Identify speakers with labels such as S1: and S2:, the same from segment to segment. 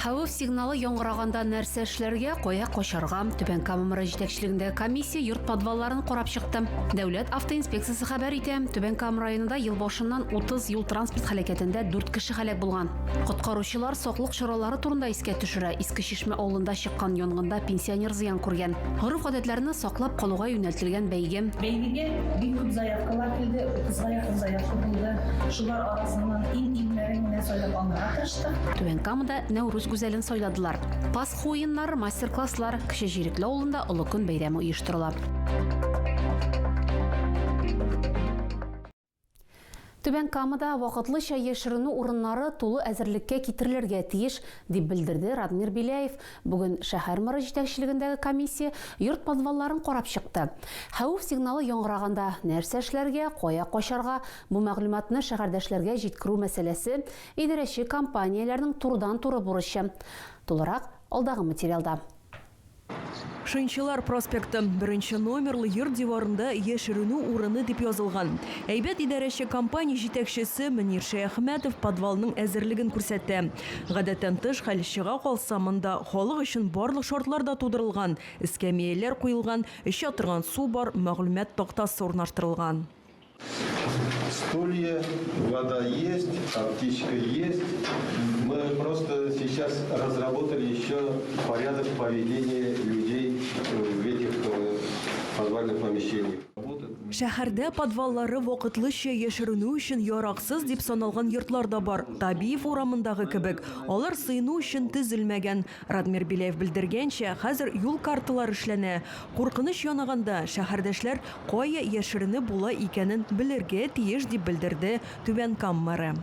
S1: Хәвеф сигналы яңгыраганда нәрсә эшләргә, кая качарга? Түбән Кама мэры җитәкчелегендәге комиссия йорт подвалларын карап чыкты. Дәүләт автоинспекциясе хәбәр итә, Түбән Кама районында ел башыннан 30 юл-транспорт һәлакәтендә 4 кеше һәлак булган. Коткаручылар саклык чаралары турында искә төшерә, иске Шмә авылында чыккан янгында пенсионер зыян күргән. Гореф-гадәтләрне саклап калуга юнәлтелгән бәйге. Бәйгегә бик күп заявкалар килде, 30 га якын заявка булды. Шулар арасыннан иң-иңнәрен генә сайлап алырга тырыштык. Түбән Камада Нәүрүз гүзәлен сайладылар. Пасха уеннары, мастер-класслар, Кече Җирекле авылында Олы көн бәйрәме оештырыла. Түбән Камада вакытлыча яшеренү урыннары тулы әзерлеккә китерелергә тиеш, дип белдерде Радмир Беляев. Бүген шәһәр мэры җитәкчелегендәге комиссия йорт подвалларын карап чыкты. Хәвеф сигналы яңгыраганда нәрсә эшләргә, кая качарга, бу мәгълүматны шәһәрдәшләргә җиткерү мәсьәләсе идарәче компанияләрнең турыдан-туры бурычы. Тулырак алдагы материалда. Шынчылар проспекты, беренче номерлы йорт диварында яшеренү урыны дип язылган. Әйбәт идарәче компания җитәкчесе Мөнир Шәяхмәтов подвалның әзерлеген күрсәтә. Гадәттән тыш хәл чыга калса, монда халык өчен барлык шартлар да тудырылган, эскәмияләр куелган, эчә торган су бар, мәгълүмат тактасы урнаштырылган. Стулья, вода есть, аптечка есть, мы просто сейчас разработали еще порядок поведения людей в этих подвальных помещениях. Шәһәрдә подваллары вакытлыча яшеренү өчен яраксыз дип саналган йортлар да бар, Табиев урамындагы кебек, алар сыену өчен төзелмәгән. Радмир Беляев белдергәнчә, хәзер юл карталары эшләнә. Куркыныч янаганда, шәһәрдәшләр кая яшеренеп була икәнен белергә тиеш, дип белдерде Түбән Кам мэры.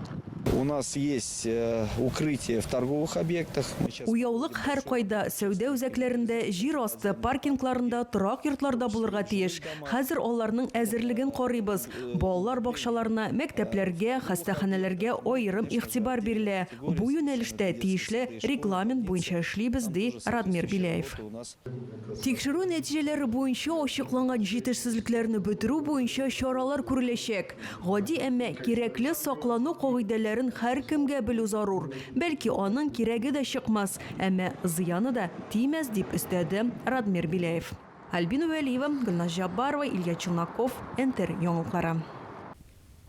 S1: У нас есть укрытие в торговых объектах. Уяулык һәркайда, сәүдә үзәкләрендә, җир асты паркингларында, торак йортларда булырга тиеш. Хәзер аларның әзерлеген карыйбыз. Балалар бакчаларына, мәктәпләргә, хастаханәләргә аерым игътибар бирелә. Бу юнәлештә тиешле регламент буенча эшлибез, ди Радмир Беляев. Тикшерү нәтиҗәләре буенча ачыкланган җитешсезлекләрне бетерү буенча чаралар күреләчәк. Гади, әмма кирәкле саклану кагыйдәләрен һәркемгә белү зарур. Бәлки, аның кирәге дә чыкмас, әмма зыяны да тимәс, дип өстәде Радмир Беляев. Альбина Вәлиева, Гөлназ Җаббарова, Илья Челноков, НТР яңалыклары.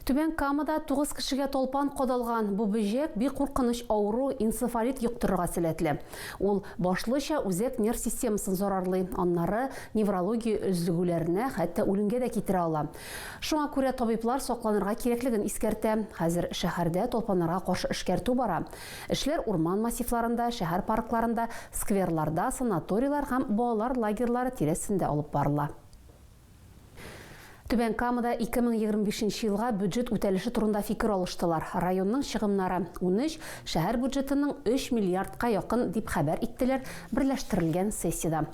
S1: Түбән Камада тугыз кешегә талпан кадалган. Бу бөҗәк бик куркыныч авыру, энцефалит йоктырырга сәләтле. Ул башлыча үзәк нерв системасын зарарлый, аннары неврология өзлегүләренә, хәтта үлемгә дә китерә ала. Шуңа күрә табиблар сакланырга кирәклеген искәртә. Хәзер шәһәрдә талпаннарга каршы эшкәртү бара. Эшләр урман массивларында, шәһәр паркларында, скверларда, санаторийлар һәм балалар лагерьлары тирәсендә алып барыла. Түбән Камада 2025 нче елга бюджет үтәлеше турында фикер алыштылар. Районның чыгымнары, унөч, шәһәр бюджетының өч миллиардка якын, дип хәбәр иттеләр берләштерелгән сессиядә.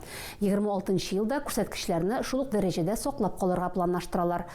S1: Егерме алтынчы елда күрсәткечләрне шул ук дәрәҗәдә саклап калырга планлаштыралар.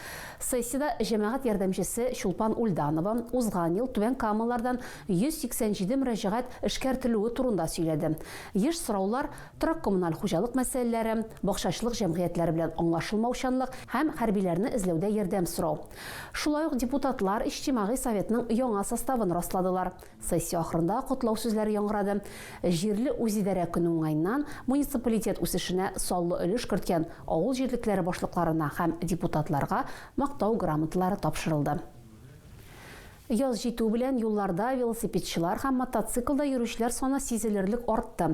S1: Сессиядә җәмәгать ярдәмчесе Чулпан Ульданова узган ел Түбән Камалардан 187 мөрәҗәгать эшкәртелүе турында сөйләде. Еш сораулар, торак-коммуналь хуҗалык мәсьәләләре, бакчачылык җәмгыятьләре белән аңлашылмаучанлык һәм хәрбиләрне эзләүдә ярдәм сорау. Шулай ук депутатлар Иҗтимагый советның яңа составын расладылар. Сессия ахырында котлау сүзләре яңгырады. Җирле үзидарә көне уңаеннан муниципалитет үсешенә саллы өлеш керткән авыл җирлекләре башлыкларына һәм депутатларга Мактау грамоталары тапшырылды. Яз җитү белән юлларда велосипедчылар һәм мотоциклда йөрүчеләр саны сизелерлек артты.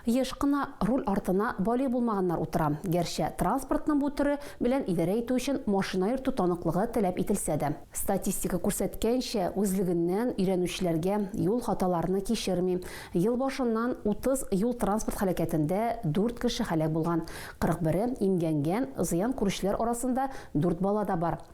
S1: Еш кына руль артына балигъ булмаганнар утыра. Гәрчә транспортның бу төре белән идарә итү өчен машина йөртү таныклыгы таләп ителсә дә. Статистика күрсәткәнчә, үзлегеннән өйрәнүчеләргә юл хаталарны кичерми. Ел башыннан 30 юл-транспорт һәлакәтендә дүрт кеше һәлак булган, 41-е имгәнгән, зыян күрүчеләр арасында дүрт бала да бар.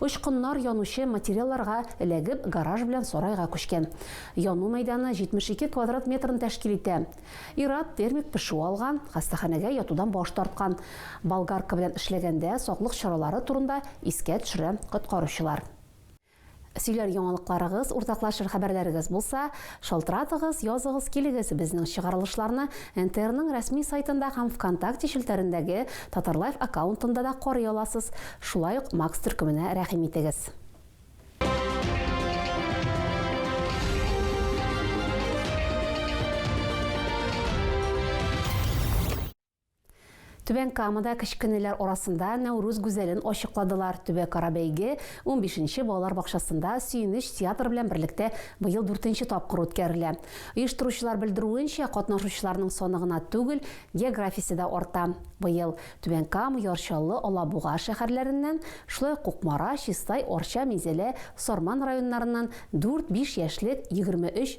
S1: Очкыннар янучы материалларга эләгеп, гараж белән сарайга күчкән. Яну мәйданы 72 квадрат метрны тәшкил итә. Ир-ат термик пешү алган, хастаханәгә ятудан баш тарткан. Болгарка белән эшләгәндә саклык чаралары турында искә төшерә коткаручылар. Сөйләр яңалыкларыгыз, уртаклашыр хәбәрләрегез булса, Шалтыратыгыз, языгыз, килегез, безнең чыгарылышларны НТРның рәсми сайтында һәм Вконтакте челтәрендәге Татарлайф аккаунтында да карый аласыз. Шулай ук Макс төркеменә рәхим итегез. Түбән Камада кечкенәләр арасында Нәүрүз гүзәлен ачыкладылар. Төбәкара бәйге унбишенче балалар бакчасында Сөенеч театры белән берлектә быел дүртенче тапкыр үткәрелә. Оештыручылар белдерүенчә, катнашучыларның саны гына түгел, географиясе дә арта. Быел Түбән Кама, Яр Чаллы, Алабуга шәһәрләреннән, шулай ук Кукмара, Чистай, Арча, Минзәлә, Сарман районнарыннан дүрт-биш яшьлек, егерме өч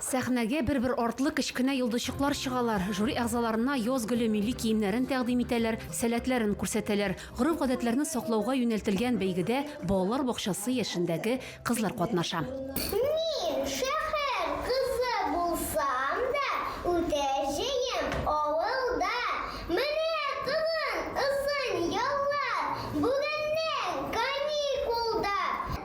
S1: Сәхнәгә бер-бер артлы кечкенә йолдызчыклар чыгалар, жюри әгъзаларына яз гөле милли киемнәрен тәкъдим итәләр, сәләтләрен күрсәтәләр. Гореф-гадәтләрне саклауга юнәлтелгән бәйгедә балалар бакчасы яшендәге кызлар катнаша. Мин шәһәр кызы булсам да, үтә җыем авылда. Менә тагын озын яллар, бүгеннән каникулда.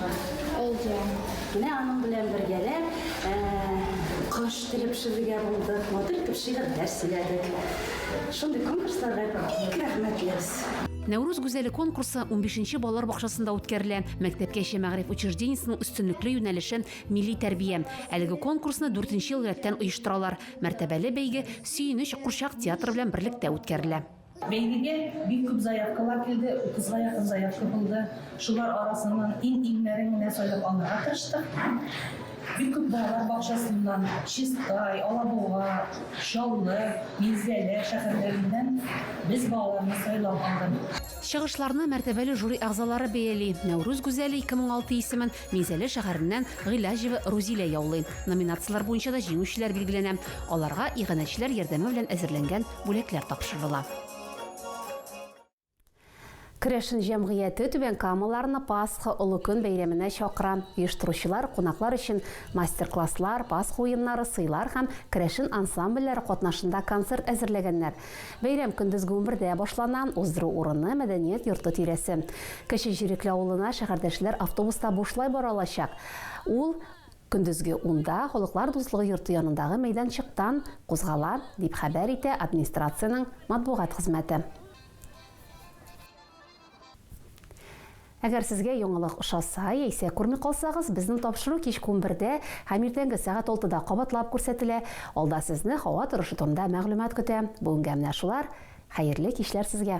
S1: Әйе, менә аның белән бергәләп кош теле пешерергә булдык, матур итеп шигырьләр сөйләдек. Шундый конкурсларга бик рәхмәтлебез. Нәүрүз гүзәле конкурсы унбишенче балалар бакчасында үткәрелә. Мәктәпкәчә мәгариф учреждениесенең өстенлекле юнәлеше, милли тәрбия. Әлеге конкурсны дүртенче ел рәттән оештыралар. Мәртәбәле бәйге Сөенеч курчак театры белән берлектә үткәрелә. Бәйгегә бик күп заявкалар килде, утызга якын заявка булды. Шулар арасыннан иң-иңнәрен генә сайлап алырга тырыштык. Бик күп балалар бакчасыннан, Чистай, Алабуга, Чаллы, Минзәлә шәһәрләреннән без балаларны сайлап алдык. Чыгышларны мәртәбәле жюри әгъзалары бәяли. Нәүрүз гүзәле 2006 исемен Минзәлә шәһәреннән Гыйләҗева Рузилә яулый. Номинацияләр буенча да җиңүчеләр билгеләнә. Аларга иганәчеләр ярдәме белән әзерләнгән бүләкләр тапшырыла. Керәшен җәмгыяте Түбән Камаларны Пасха олы көн бәйрәменә чакыра. Оештыручылар кунаклар өчен мастер-класслар, Пасха уеннары, сыйлар һәм керәшен ансамбльләре катнашында концерт әзерләгәннәр. Бәйрәм көндезге унбердә башлана, уздыру урыны, мәдәният йорты тирәсе. Кече Җирекле авылына шәһәрдәшләр автобуста бушлай бара алачак. Ул Көндезге унда Халыклар дуслыгы йорты янындагы мәйданчыктан кузгала, дип хәбәр итә администрациянең матбугат хезмәте. Әгәр сезгә яңалык ошаса, яисә күрми калсагыз, безнең тапшыру кичке унбердә һәм иртәнге сәгать алтыда кабатлап күрсәтелә. Алда сезне һава торышы турында мәгълүмат көтә. Бүгенгә менә шулар. Хәерле кичләр сезгә!